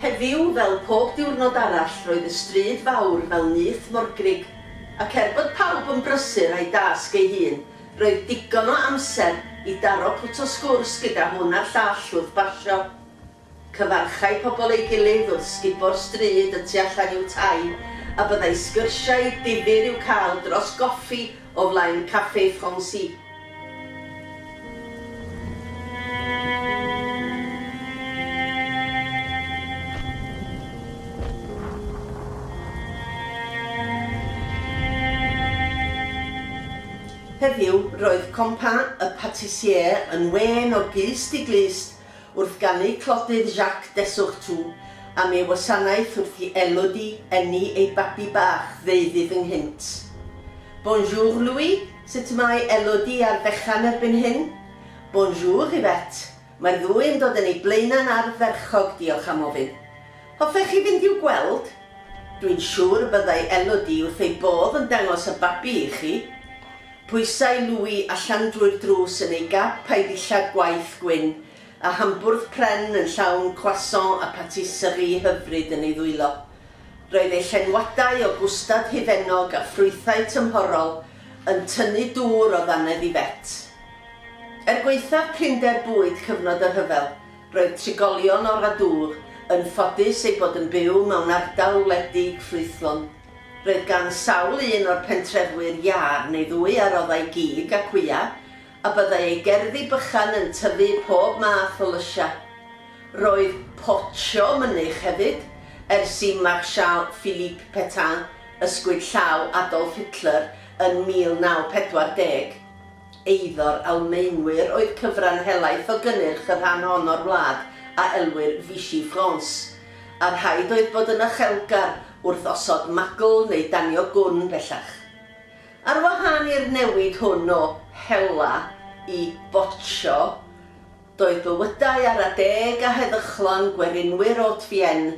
Heddiw, fel pob diwrnod arall, roedd y stryd fawr fel nyth morgrug, ac er bod pawb yn brysur â'i dasg ei hun, roedd digon o amser i daro pwt o sgwrs gyda hwn a'r llall wrth basio. Cyfarchai pobl ei gilydd wrth sgubo'r stryd y tu allan i'w tai, a byddai sgyrsiau difyr i'w cael dros goffi o flaen Café Francis. Heddiw, roedd Compagnie y Patissier yn wên o glust i glust Wrth ganu clodydd Jacques Dessourtou am ei wasanaeth wrth i Elodie eni ei babi bach ddeuddydd ynghynt. Bonjour Louis, sut y mae Elodie a'r fechan erbyn hyn? Bonjour Yvette, mae'r ddwy yn dod yn ei blaenau'n ardderchog, diolch am ofyn. Hoffech chi fynd i'w gweld? Dwi'n siŵr y byddai Elodie wrth ei bodd yn dangos y babi i chi. Pwysai Louis allan drwy'r drws yn ei gap a'i ddillad gwaith gwyn, a hambwrdd pren yn llawn croissant a patisserie hyfryd yn ei ddwylo. Roedd ei llenwadau o gwstad hufennog a ffrwythau tymhorol yn tynnu dŵr o ddannedd Yvette. Er gwaethaf prinder bwyd cyfnod y rhyfel, Roedd trigolion o'r Adour yn ffodus eu bod yn byw mewn ardal wledig ffrwythlon. Roedd gan sawl un o'r pentrefwyr iâr neu ddwy a roddai gig a cwya, a byddai ei gerddi bychan yn tyfu pob math o lysiau. Roedd potsio mynych hefyd, ers i Marshal Philippe Pétain ysgwyd llaw Adolf Hitler yn 1940. Eiddo'r Almaenwyr oedd cyfran helaeth o gynnyrch y rhan hon o'r wlad a elwir Vichy France, a rhaid oedd bod yn uchelgar wrth osod magl neu danio gwn bellach. Ar wahân i'r newid hwn o hela i boccio, doedd bywydau ara deg a heddychlon gwerinwyr Haute-Vienne